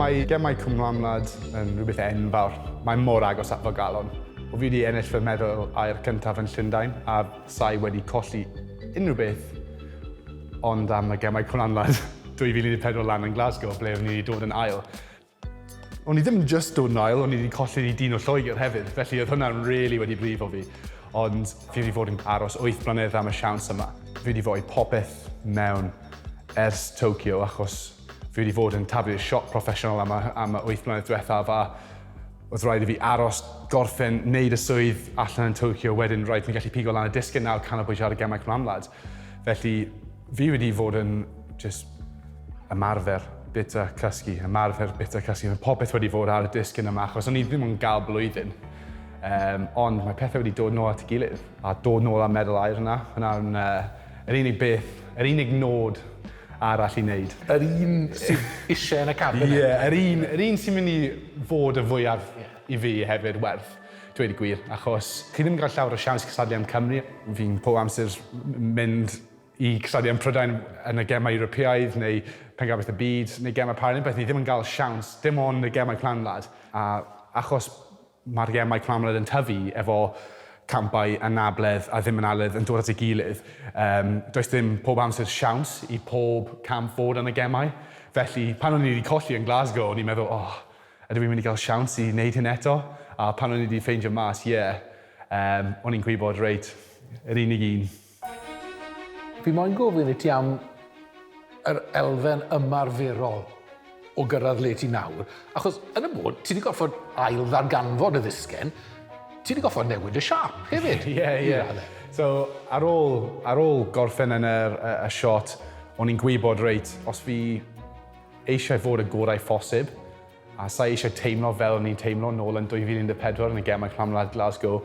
Mae gemau Cwm Lamnad yn rhywbeth enfawr. Mae mor agos at fy galon. O fi wedi ennill fy medal aur cyntaf yn Llundain a sa'i wedi colli unrhyw beth ond am y gemau Cwm Lamnad 2014 lan yn Glasgow ble o'n i wedi dod yn ail. O'n i ddim yn just dod nôl, o'n i wedi colli i dîn o Lloegr hefyd, felly oedd hwnna'n really wedi brifo fi. Ond fi wedi fod yn aros wyth mlynedd am y siawns yma. Fi wedi rhoi popeth mewn ers Tokyo achos fi wedi fod yn taflu'r siop proffesiynol am y, am y wyth mlynedd diwethaf a oedd rhaid i fi aros, gorffen, wneud y swydd allan yn Tokyo, wedyn rhaid i mi gallu pigo lan y disgyn nawr, canolbwyntio ar y gemau cymamlad. Felly, fi wedi fod yn just ymarfer bita cysgu, ymarfer bita cysgu. Mae popeth wedi fod ar y disgyn yma, achos o'n i ddim yn gael blwyddyn. Um, ond mae pethau wedi dod nôl at y gilydd, a dod nôl â medal air yna. Hwna'n uh, yr unig beth, yr unig nod arall i wneud. Yr un sydd eisiau yn y cabinet. Ie, yeah, yr un, yr un sy'n mynd i fod y fwyaf yeah. i fi hefyd werth. Dweud y gwir, achos chi ddim yn cael llawer o siawns cystadlu am Cymru. Fi'n pob amser mynd i cystadlu am Prydain yn y Gemau Ewropeaidd neu Pencampwriaeth y Byd neu Gemau Paralympiaidd, ni ddim yn cael siawns, dim ond y Gemau Planwlad. A achos mae'r Gemau Planwlad yn tyfu efo campau anabledd a ddim analedd yn dod at ei gilydd, um, does dim pob amser siawns i pob camp fod yn y Gemau. Felly, pan o'n i wedi colli yn Glasgow, o'n i'n meddwl, oh, Ydw i'n mynd i gael siawns i wneud hyn eto? A pan o'n i 'di ffeindio mas, ie, yym, o'n i'n gwybod, reit, yr unig un. Fi moyn gofyn i ti am yr elfen ymarferol o gyrraedd le ti nawr, achos yn y bôn, ti 'di gorfod ail-ddarganfod y ddisgen, ti 'di gorfod newid y siâp hefyd, i radde. Ie, ie. So, ar ôl, ar ôl gorffen yn yr, y, y shot, o'n i'n gwybod, reit, os fi, eisiau fod y gorau phosib, a sa i eisiau teimlo fel o'n i'n teimlo nôl yn 2014 yn y Gemau Clwm Wlad Glasgow,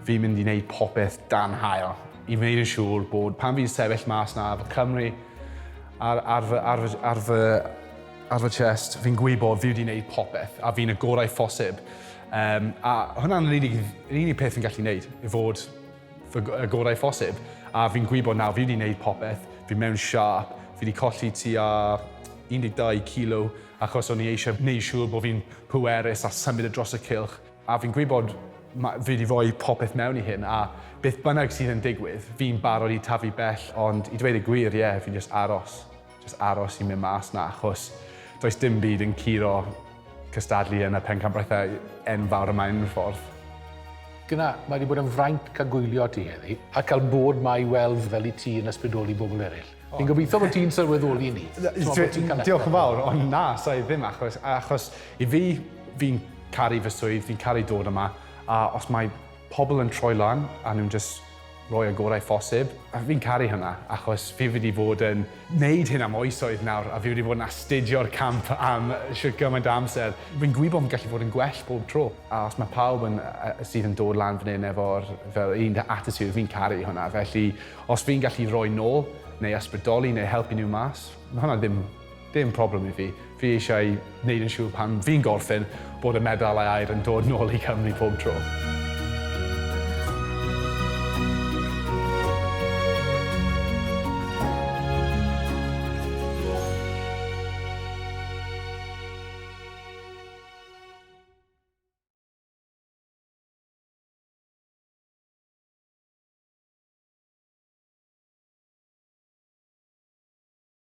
fi'n mynd i wneud popeth dan haul i wneud yn siŵr bod pan fi'n sefyll mas 'na efo Cymru ar, ar, fy, ar, fy, ar, fy, ar fy chest, fi'n gwybod fi wedi wneud popeth a fi'n y gorau phosib. Um, a hwnna'n yr unig, yr unig peth fi'n gallu wneud, i fod fy gorau phosib, a fi'n gwybod nawr, fi wedi gwneud popeth, fi mewn siâp, fi wedi colli tua 12 kilo achos o'n i eisiau gwneud siŵr bod fi'n pwerus a symud y dros y cylch, a fi'n gwybod fi wedi rhoi popeth mewn i hyn, a beth bynnag sydd yn digwydd, fi'n barod i tyfu bell, ond i dweud y gwir, ie, fi'n jyst aros. jyst aros i mynd mas 'na achos does dim byd yn curo cystadlu yn y pencampwriaethau enfawr yma unffordd. Dyna, mae wedi bod yn fraint cael gwylio ti heddi, a cael bod ma i weld fel i ti yn ysbrydoli bobl eraill. Fi'n gobeithio bod ti'n sylweddoli ni. Diolch yn fawr, ond na, sa i ddim achos, achos i fi, fi'n caru fy swydd, fi'n caru dod yma, a os mae Pobl yn troi lan a nhw'n jyst rhoi y gorau phosib. A fi'n caru hynna, achos fi wedi bod yn wneud hyn am oesoedd nawr, a fi wedi bod yn astudio'r camp am shwt gymaint o amser. Fi'n gwybod fi'n gallu bod yn gwell bob tro. A os mae pawb yn, sydd yn dod lan fan hyn efo'r fel un attitude, fi'n caru hwnna. Felly, os fi'n gallu rhoi nôl, neu ysbrydoli, neu helpu nhw mas, ma' hwnna ddim... Dim problem i fi. Fi eisiau neud yn siŵr pan fi'n gorffen bod y medalau aur yn dod nôl i Cymru pob tro.